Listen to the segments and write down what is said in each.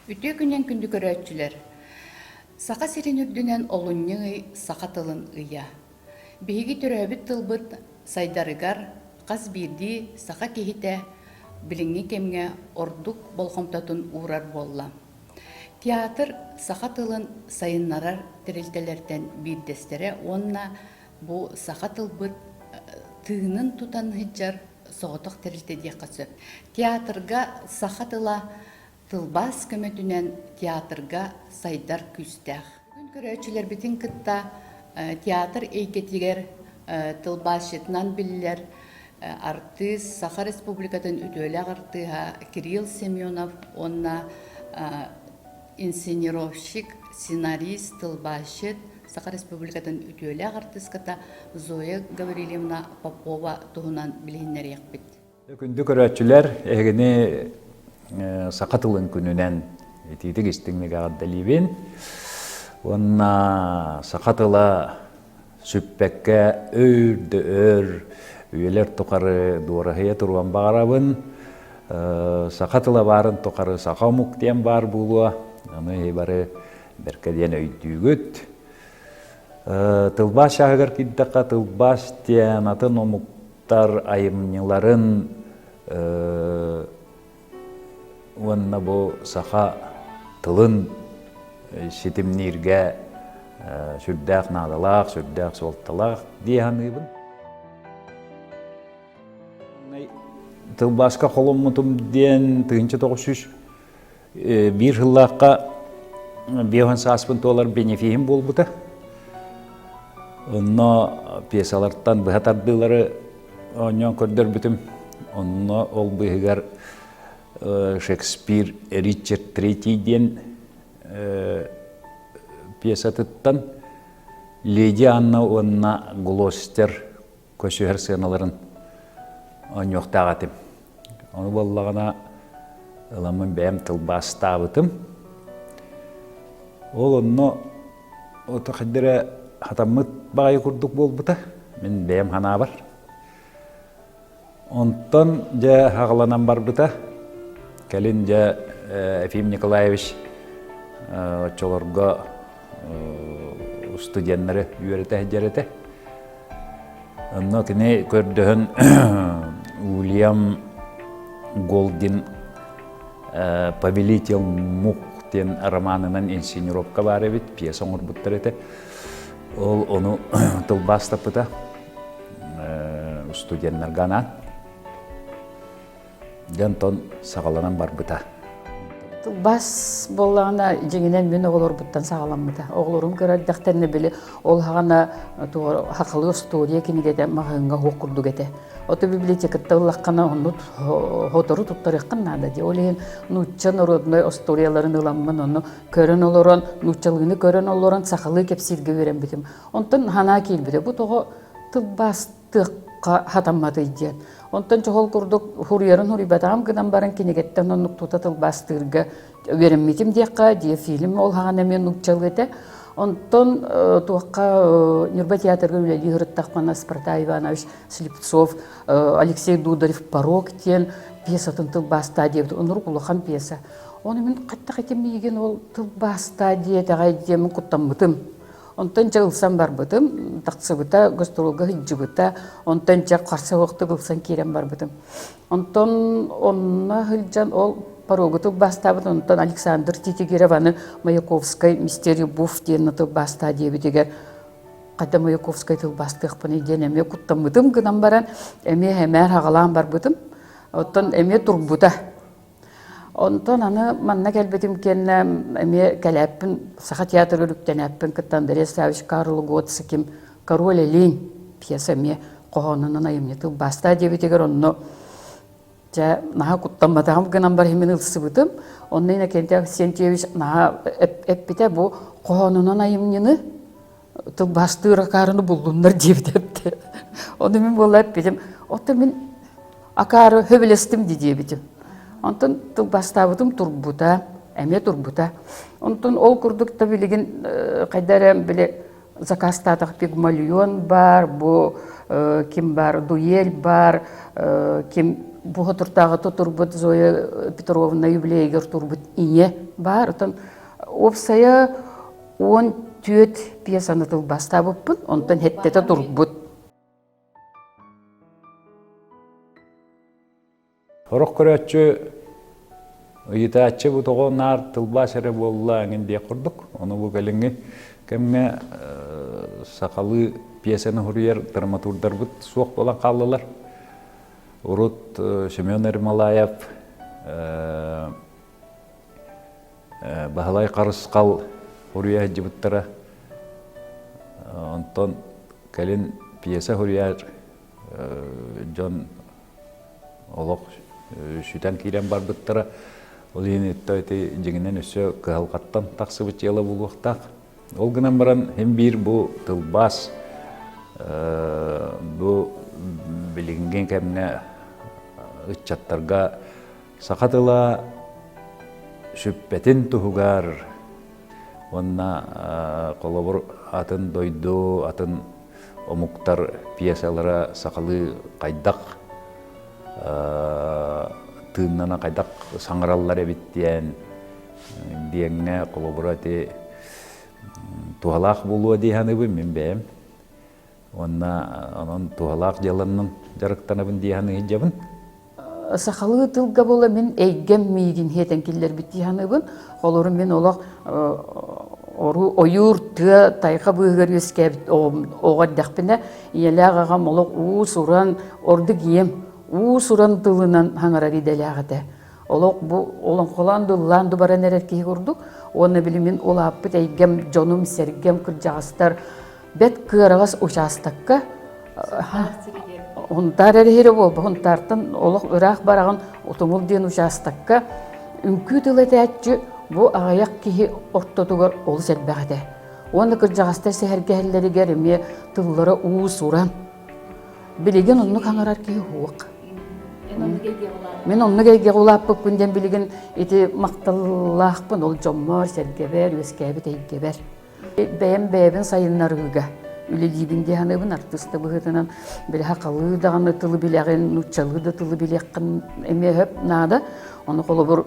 Үтүө күнүн күндү көрөөччүлэр! Саха сирин үрдүнэн олунньу ый саха тылын ыйа. Биһиги төрөөбүт тылбыт сайдарыгар хас биирдии саха киһитэ билиҥҥи кэмҥэ ордук болҕомтотун уурар буолла. Театр саха тылын сайыннарар тэрилтэлэртэн биирдэстэрэ уонна Бу саха тылбыт тыынын тутан сылдьар соҕотох тэрилтэ диэххэ сөп. Театрга саха тыла тылбаас көмөтүнэн театрга сайдар күүстээх. Бүгүн көрөөччүлэрбитин кытта театр эйгэтигэр тылбаасчытынан биллэр артыыс, Саха Республикатын үтүөлээх артыыһа Кирилл Семенов уонна инсценировщик, сценарист, тылбаасчыт, Саха Республикатын үтүөлээх артыыската Зоя Гаврильевна Попова туһунан билиһиннэриэхпит. Күндү көрөөччүлэр, эһигини саха тылын күнүнэн итиитик истиҥник эҕэрдэлиибин уонна саха тыла сүппэккэ өр да өр үйэлэр тухары дуораһыйа туруон баҕарабын. Саха тыла баарын тухары саха омук диэн баар буолуо. Аны иһи бары бэркэ диэн өйдүүгүт. Тылбаас чааһыгар киирдэххэ тылбаас диэн атын омуктар айымньыларын уонна бу саха тылын ситимнииргэ сүрдээх наадалаах, сүрдээх суолталаах дии саныыбын. Тылбааска холоммутум диэн тыһынча тоҕус үс биир сыллаахха биоһын сааспын туолар бенефиһим буолбута. Онно пьесалартан быһа тардыылары Оонньоон көрдөрбүтүм. Онно ол быыһыгар Шекспир Ричард Третий диэн пьесатыттан Леди Анна уонна Глостер көсүһэр сыаналарын оонньуохтаах этим. Ону буоллаҕына ыламмын бэйэм тылбаастаабытым. Ол онно Отахиддэрэ хатаммыт баҕайы курдук буолбута. Мин бэйэм ханаабар. Онтон дьэ хаҕыланан барбыта. Кэлин дьэ Ефим Николаевич оччолорго устудьуоннары үөрэтэ сылдьар этэ. Онно кини көрдөһөн Уильям Голдин «Повелитель мух» диэн романынан инсценировка баар эбит, пьеса оҥорбуттар этэ. Ол ону тылбаастаппыта студеннарга анаан. Дьэ онтон саҕаланан барбыта. Тылбас буоллаҕына, дьиҥинэн мин оҕолорбуттан саҕаламмыта. Оҕолорум көрөрдөхтөрүнэ били ол хаҕана сахалыы остуоруйа кинигэтэ маһыыҥҥа уһук курдук этэ. Оту библиотекаттан ыллаххына оннук сотору туттарыаххын наада дии. Ол иһин нуучча народнай остуоруйаларын ыламмын ону көрөн олорон, нууччалыыны көрөн олорон сахалыы кэпсииргэ үөрэммитим. Онтон санаа киирбитэ, бу тоҕо тылбас тыахха хатамматый диэн. Онтон чохол курдук хуруйарын хуруйбатаҕым гынан баран кинигэттэн оннук тута тылбаастыырга үөрэммитим диэххэ, дьиэ фильм ол хаҕан эмиэ нууччалыы этэ. Онтон э, туохха э, Ньурба театрга үлэлии сырыттахпына Спартак Иванович Слепцов, э, Алексей Дударев «Порог» диэн пьесатын тылбаастаа диэбит. Онурук улахан пьеса. Оны мин қаттақ етем миигин ол тылбаастаа диэтэҕэй диэмин куттаммытым. Онтон дьэ ылсан барбытым, тахсыбыта, гастролга сылдьыбыта. Онтон дьэ харса суохтук ылсан киирэн барбытым. Онтон онно сылдьан ол порогутук бастаабыт, онтон Александр Титигированы Маяковскай «Мистерий Буф» диэн тылбаастаа диэбитигэр хата Маяковскай тылбаастыахпыный диэн эмиэ куттаммытым гынан баран, эмиэ сэмээр хаҕалаан барбытым. Оттон эмиэ турбута. Онтон аны манна кэлбитим кэннэ эмиэ кэлээппин Саха театр үлүктэнээппин кытта Андрей Ставич Карл Готсиким «Король Элиин» пьеса эмиэ хоһоонунан айымньы тылбаастаа диэбитигэр онно дьэ наһаа куттамматаҕым гынан барыһымын ылсыбытым онно Иннокентий Авксентьевич наһаа эппитэ бу хоһоонунан айымньыны тылбаастыыр акаарыны буллуннар диэбитэ эпте ону мин буола эппитим оттон мин акаары хөбүлэстим ди диэбитим онтон тылбаастаабытым турбута эмиэ турбута онтон ол курдук та билигин хайда эрэ били закастаатах пигмальон бар бу ким бар дуель бар ким буха туртааҕы тутурбут зоя петровна юбилейгер турбут ийэ баар отон уопсайа Уон түөрт пьесаны тылбастаабыппын, онтон хэттэтэ турбут. Сорох көрөөччү ыйытааччы бу тоҕо наар тылбаас эрэ буолла эҥин диэх курдук. Ону бу кэлиҥҥи кэмҥэ э, сахалыы пьесаны суруйар драматурдарбыт суох буолан хааллылар. Урут э, Семен Ермолаев э, Баһылай Харысхал суруйа сылдьыбыттара. Онтон кэлин пьеса суруйар дьон олох сүтэн киирэн барбыттара. Ол иһин ити дьиҥинэн өссө кыһалҕаттан тахсыбыт дьыала буолуохтаах. Ол гынан баран син биир бу тылбаас бу билиҥҥи кэмҥэ ыччаттарга саха тыла сүппэтин туһугар уонна холобур атын дойду атын омуктар пьесалара сахалыы хайдах тыыннана хайдах саҥараллар эбит диэн диэҥҥэ холобура ити туһалаах буолуо дии саныыбын мин бэйэм Уонна онон туһалаах дьыаланан дьарыктанабын дии саныыдьабын. Сахалыы тылга була мин эйгэм миигин хиэтэн киллэрбит дии саныыбын. Холорум мин олох ойуур тыа тайха быыһыгар үөскээбит оҕо эрдэхпинэ ийэлээх аҕам олох уус-уран ордук ийэм уус-уран тылынан хаҥарар идэлээх этэ. Олох бу олоҥхолоон дыллаан дубаран эрэр киһи курдук. Уонна били мин улааппыт эйгэм, дьонум, сэргэм, кырдьаҕастар бэт кыараҕас учаастакка Хунтаар эрэһиирэ буолба Хунтаартан олох ыраах бараҕын Утумул диэн учаастакка үҥкүү тыл этээччи бу аҕыйах киһи ортотугар олус элбэх этэ. Уонна кырдьаҕастар сэһэргэһэллэригэр эмиэ тыллара уус-уран. Билигин оннук хаҥарар киһи уох. Мин оннук эйгэҕэ улааппыппын диэн билигин ити махталлаахпын ол дьоммор, сэргэбэр, үөскээбит эйгэбэр. бэйэм бэйэбин сайыннарыыга үлэлиибин диэн саныыбын артыыста быһыытынан били хахалыы даҕаны тылы билэҕин нууччалыы да тылы билиэххин эмиэ сөп наада ону холобур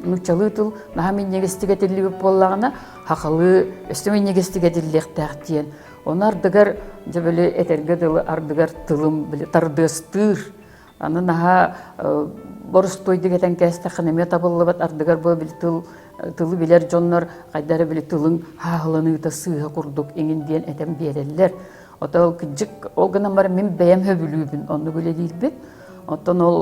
нууччалыы тыл наһаа минньигэстик этиллибит буоллаҕына хахалыы өссө минньигэстик этиллиэхтээх диэн ону ардыгар дьэ били этэргэ дылы ардыгар тылым били тардыастыыр Аны наһаа борустуойдук этэн кээстэххинэ эмиэ табыллыбат ардыгар бу били тыл тылы билэр дьоннор хайда эрэ били тылын хааһыланыыта сыыһа курдук иҥин диэн этэн биэрэллэр. Ото кыдьык ол гынан баран мин бэйэм хөбүлүүбүн оннук үлэлиирбит. Оттон ол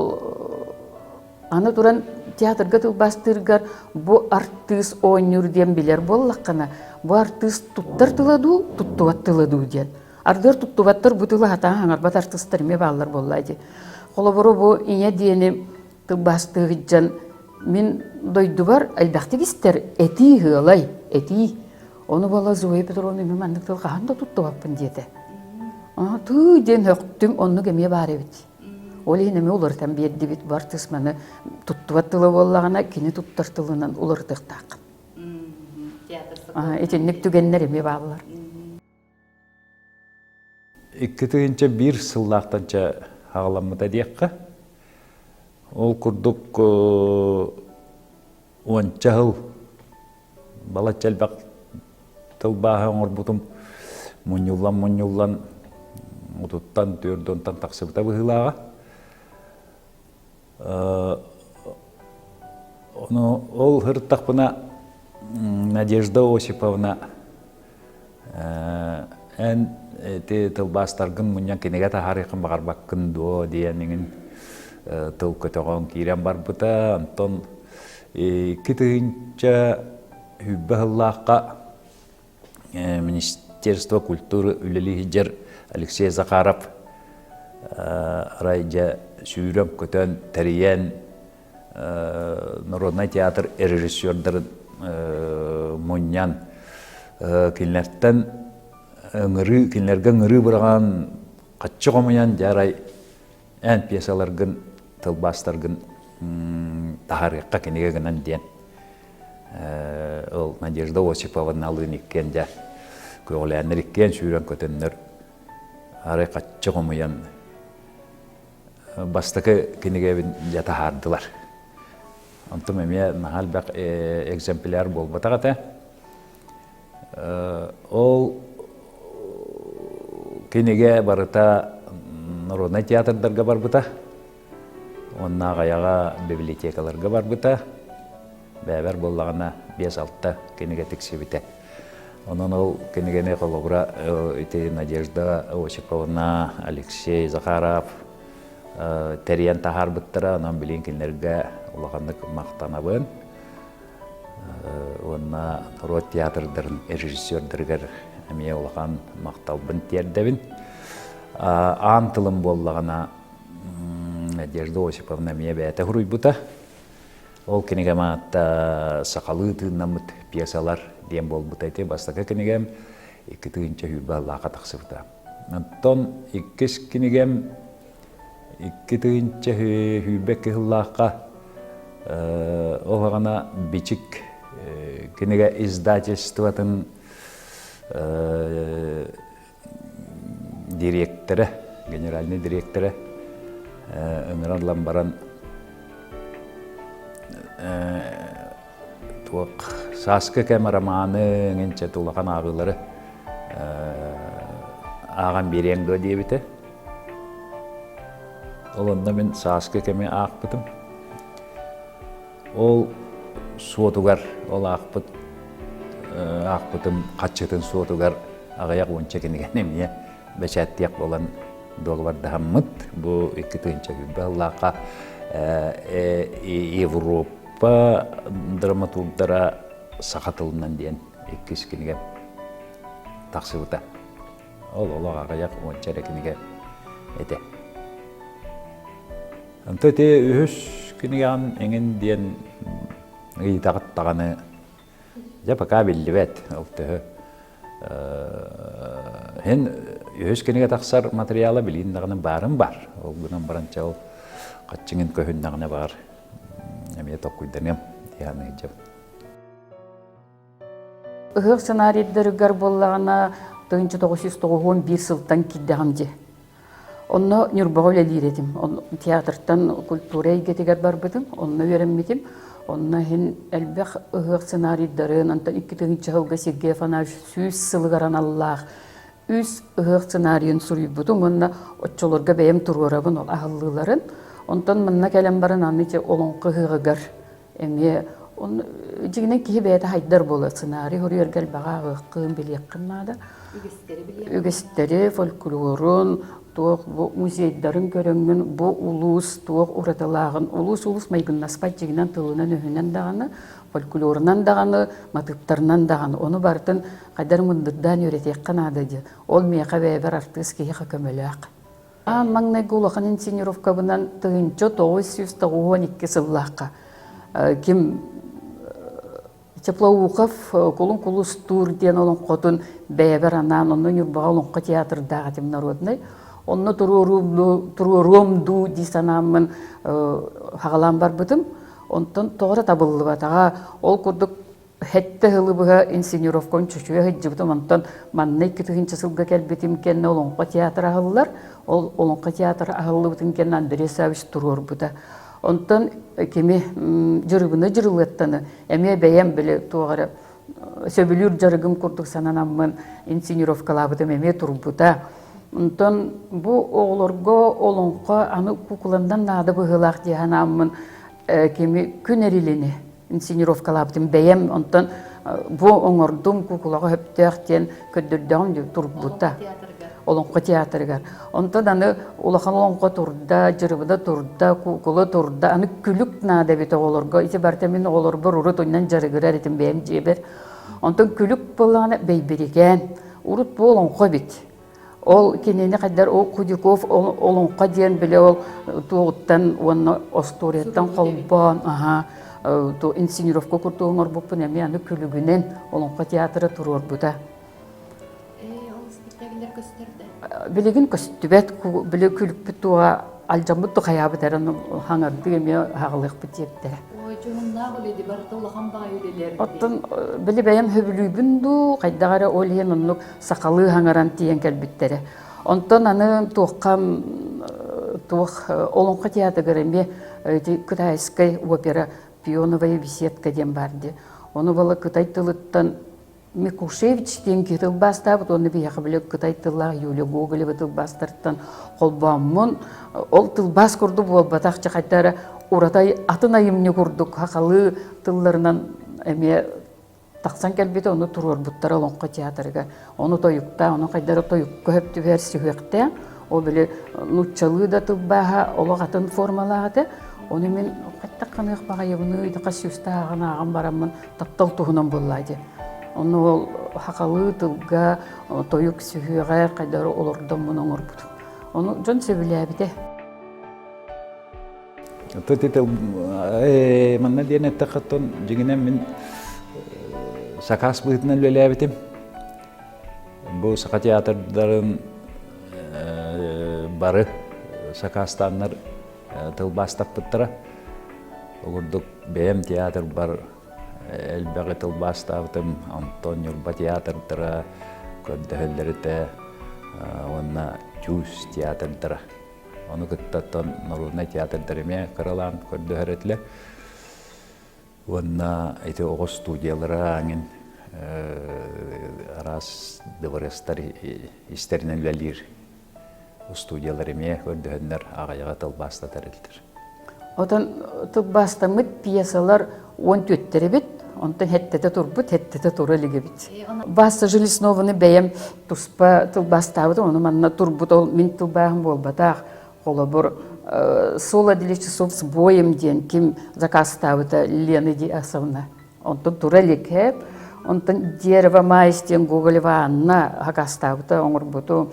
аны туран театрга тылбаастыыргар бу артыыс оонньуур диэн билэр буоллаххына бу артыыс туттар тыла дуу, туттубат тыла дуу диэн. Ардыгар туттубаттар бу тылы хатаан хаҥарбат артыстар эмиэ бааллар буолла дии. Холобуру бу ийэ диэни тылбаастыы сылдьан мин дойдубар элбэхтик истэр этии ыалай, этии. Ону бола Зоя Петровна мин маннык тыл хаһан да туттубаппын диэтэ. Тыы диэн хөхтүм, оннук эмиэ баар эбит. Ол иһин эмиэ уларытан биэрдибит бу артысманы туттубат тыла буоллаҕына кини туттар тылынан уларытыахтаах. Итинник түгэннэр эмиэ бааллар. Икки тыһыынча биир сыллаахтанча аҕаламмыта диэххэ. Ол курдук уонча сыл балачча элбэх тылбааһы оҥорбутум мунньуллан-мунньуллан отуттан, түөрдүнтэн тахсыбыта быһыылааҕа. Ону ол һыртахпына Надежда Осиповна эн ити тылбаастаргын мунньан кинигэ таһаарыахын баҕарбаккын дуо диэн иҥин тыл көтөҕөн киирэн барбыта онтон икки тыһыынча сүүрбэ сыллаахха Министерство культуры үлэлии сылдьар Алексей Захаров арай дьэ сүүрэн көтөн тэрийэн народнай театр режиссердарын мунньан кинилэртэн ыҥырыы кинилэргэ ыҥырыы быраҕан хаччы хомуйан дьэ арай эн пьесаларгын тылбаастаргын таһаарыахха кинигэ гынан диэн ол Надежда Осиповна Лыниккен дьэ көҕүлээннэр иккиэн сүүрэн көтөннөр арай хаччы хомуйан бастакы кинигэбин дьэ таһаардылар онтум эмиэ наһаа элбэх экземпляр буолбатах этэ Ол кинигэ барыта народнай театрдарга барбыта. Онно аҕайаҕа библиотекаларга барбыта. Бэбэр буоллаҕына бес-алта кинигэ тиксибитэ. Онон ол кинигэни холобура ити Надежда Осиповна, Алексей Захаров тэрийэн таһаарбыттара. Онон билин кинилэргэ улаханнык махтанабын. уонна норуот театрдарын режиссердарыгар эмиэ улахан махталбын тиэрдэбин. Аан тылым буоллаҕына Надежда Осиповна эмиэ бэйэтэ суруйбута. Ол кинигэм аатта «Сахалыы тыыннаммыт пьесалар» диэн буолбута ити бастакы кинигэм, икки тыһыынча сүүрбэ аллааха тахсыбыта. Оттон иккис кинигэм Икки тыһыынча сүүрбэ кыһыллаахха ол аҕана Бичик кинигэ издательствотын дириэктэрэ, генеральнай дириэктэрэ ыҥыран баран Туох сааскы кэм романы эҥинчэт улахан ааҕыылары ааҕан биэриэҥ дуо диэбитэ. Ол онно мин сааскы кэми аахпытым. Ол суотугар ол аахпыт аахпытым хаччытын суотугар аҕыйах уонча кинигэн эмиэ бэчээттиэх буолан долуордаһаммыт. Бу икки тыһыынча сүүрбэ сыллаахха Европа Па драматургдара саха тылынан диэн иккис кинигэ тахсыбыта. Ол олох аҕыйах уонча эрэ кинигэ этэ. Онто ити үһүс кинигэҕин эҥин диэн ыйытаҕыт даҕаны Дьэ, пока биллибэт, ол төһө. Һин үһүс кинигэ тахсар материала билин даҕаны баарын бар. Ол гынан баран чал хаччыңын көһүн даҕаны бар. Эмиэ токкуйданыам, дианыйдым. Ыһыах сценарийдэригэр боллаҕына, тыһынча тоғыз жүз тоғуһуон биир сылтан киирдэҕим дьи. Онно Ньурбаҕа үлэлиир этим. Театртан культура эйгэтигэр барбытым, онно үөрэммитим. Онно иһин элбэх ыһыах сценарийдарын, онтон икки тыһыынча сылга Сергей Афанасьевич сүүс сылыгар аналлаах үс ыһыах сценарийын суруйбутум уонна оччолорго бэйэм туруорабын ол аһыллыыларын. Онтон манна кэлэн баран аны ити Олоҥхо ыһыаҕыгар эмиэ дьиҥинэн киһи бэйэтэ хайдар буолар сценарий хоруйарга элбэҕи ааҕыаххын билиэххин наада үгістэри фольклорун туох бу музейдарын көрөҥҥүн бу улуус туох уратылааҕын улуус улуус майгыннаспат дьиҥинэн тылынан-өһүнэн даҕаны фольклорунан даҕаны матыыптарынан даҕаны ону барытын хайдар мындырдаан үөрэтиэххэ наада дии ол миэхэ бэйэбэр артыыс киһиэхэ көмөлөөх Аан маҥнайгы улахан инсценировкабынан тыһыынча тоҕус сүүс тоҕус уон икки сыллаахха ким Теплоухов Кулун Кулустуур диэн олоҥхотун бэйэбэр анаан онно Ньурбаҕа Олоҥхо театрдаах этим народнай. Онно туруоруом дуу дии санааммын хаҕалаан барбытым. Онтон тоҕо да табыллыбатаҕа. Ол курдук Хэттэ сылы быһа инсценировкабын чочуйа сылдьыбытым, онтон манна икки тыһыынча сылга кэлбитим кэннэ Олоҥхо театра аһыллар. Ол Олоҥхо театра аһыллыбытын кэннэ Андрей Саввич туруорбута. Онтон кими дьырыбына дьырылыаттаны эмиэ бэйэм били туох эрэ сөбүлүүр дьарыгым курдук сананаммын инсценировкалаабытым эмиэ турбута. Онтон бу оҕолорго Олоҥхо аны кукуландан наада быһыылаах дии санааммын кими күн эрилини инсценировкалаабытым бэйэм онтон бу оҥордум кукулаҕа сөптөөх диэн көрдөрдөҕүм дии турбута олоҥхо театрыгар онтон аны улахан олоҥхо турда дьырыбыда турда кукула турда аны күлүк наада эбит оҕолорго ити барыта мин оҕолорбор урут уннан дьарыгырар этим бэйэм дьиэбэр онтон күлүк буоллаҕына бэйбирикээн урут бу олоҥхо эбит Ол кинини хайдар ол Кудяков Олоҥхо диэн биле ол туоҕуттан уонна остуоруйаттан холбоон аха ту инсценировка курту оҥорбуппун эми аны күлүгүнэн Олоҥхо театра туруорбута. Билигин көстүбэт били күлүкпүт туоҕа алдьаммыт ту хаyaабыт эрэн хаңардыы эми хаҕылыахпыт тиэрдэрэ. Оттон били бэйэн хөбүлүүбүн дуу, хайдах эрэ ол иһин оннук сахалыы хаҥаран тиийэн кэлбиттэрэ. Онтон аны туоххам туох Олоҥхо театрыгар эмиэ Кытайскай опера пионовая беседка диэн баар дии. Ону бала кытай тылыттан Микушевич диэн киһи тылбаастаабыт уонна биһиэхэ били кытай тыллаах Юлия Гоголева тылбаастартан холбооммун ол тылбаас курдук буолбатах чахайда эрэ ураты атын айымньы курдук хахалыы тылларынан эмиэ Тахсан кэлбитэ ону туруорбуттара Олоҥхо театрыгар. Ону тойуктаах, ону хайдара тойукка хөп түһэр сүһүөхтээх. Ол били нууччалыы да тылбааһа олох атын формалаах этэ. Ону мин хайдах ханыах баҕайыбыны итэхэ сүүстааҕын ааҕан бараммын таптал туһунан буллаати. Ону ол хахалыы тылга, тойук сүһүөҕэ хайдары олордоммун оҥорбутум. Ону дьон сөбүлээбитэ. манна диэн эттэххиттэн дьиҥинэн мин сакаас быһыытынан үлэлээбитим бу саха театрдарын бары сакаастааннар тылбаастаппыттара угурдук бэйэм театрбар элбэҕи тылбаастаабытым антон ньурба театрдара көрдөһөллөрүтэ уонна чуус театрдара Ону кытта норуодунай театрдар эмиэ кыралаан көрдөһөр этилэр. Уонна ити оҕо студиялара ангин араас дворецтар истэринэн үлэлиир устудиялар эмиэ көрдөһөннөр аҕайаҕа тылбаастатар этилэр. Отон тылбаастаммыт пьесалар он түөттэрибит, онтон хэттэтэ турбут, хэттэтэ тура илигибит. Баста Железнованы бэйэм туспа тылбаастаабытым, ону манна турбут ол мин тылбаахым буолбатах. Холобур, «Соло для часов с боем» диэн ким закастаабыта Лена Диасовна. Онтон тура иликэп, онтон «Дерево майс» диэн Гоголева Анна закастаабыта оҥорбуту.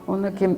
Ону ким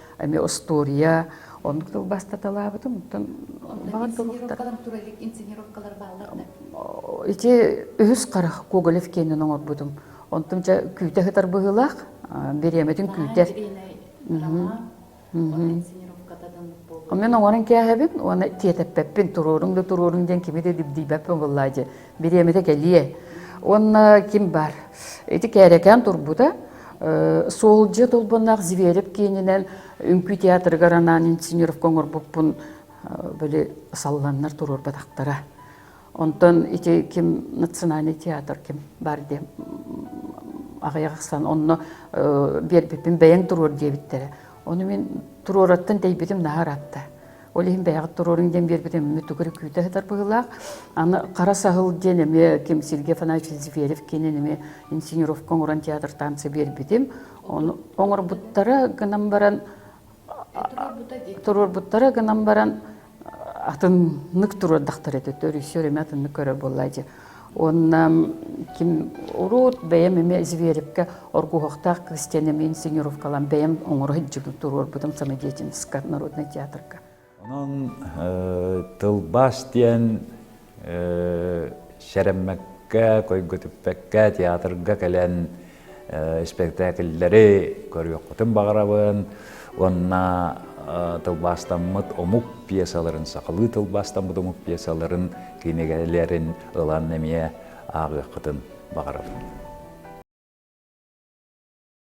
эми устуоруя оннук тыл бастаталаабытым оттон инсценировкалар бааллар ити үһүс харах коголев киэнин оҥорбутум онтум чэ күүтэ сытар быһыылаах бириэмэтин күүтэр мен оҥорон кээһэбин уонна тиэтэппэппин туруоруҥ да туруоруҥ диэн кими да дибдийбэппин быллаа дьэ бириэмэтэ кэлиэ уонна ким баар ити кээрэкээн турбута суолдьа толбоннаах Зверев киининэн үҥкүү театрыгар анаан инсценировка оҥорбуппун били салланнар туруорбатахтара онтон ити ким национальный театр ким баар диэн аҕыйах ахсан онно биэрбиппин бэйэҥ туруор диэбиттэрэ ону мин туруораттан тэйбитим наһаа ыратта Ол иһин бэйэҕит туруоруҥ диэн биэрбитим эмиэ тугу эрэ күүтэ сытар быһыылаах. Аны Хара саһыл диэн эмиэ ким Сергей Афанасьевич Зверев киинин эмиэ инсценировка оҥорон театртаамса биэрбитим. Ону оҥорбуттара гынан баран туруорбуттара гынан баран атыннык туруордахтар этэ. Режиссер эмиэ атыннык көрөр буолла дии. Уонна ким урут бэйэм эмиэ Зверевке оргуһахтаах крестьянами инсценировкалан бэйэм оҥоро сылдьыбытым туруорбутум самодеятельноска народнай театрга. Онон тылбас диэн сэрэммэккэ, койгөтүппэккэ театрга кэлэн испэктээкиллэри көрүөххүтүн баҕарабын уонна тылбаастаммыт омук пьесаларын сахалыы тылбаастаммыт омук пьесаларын кинигэлэрин ылан эмиэ ааҕыаххытын баҕарабын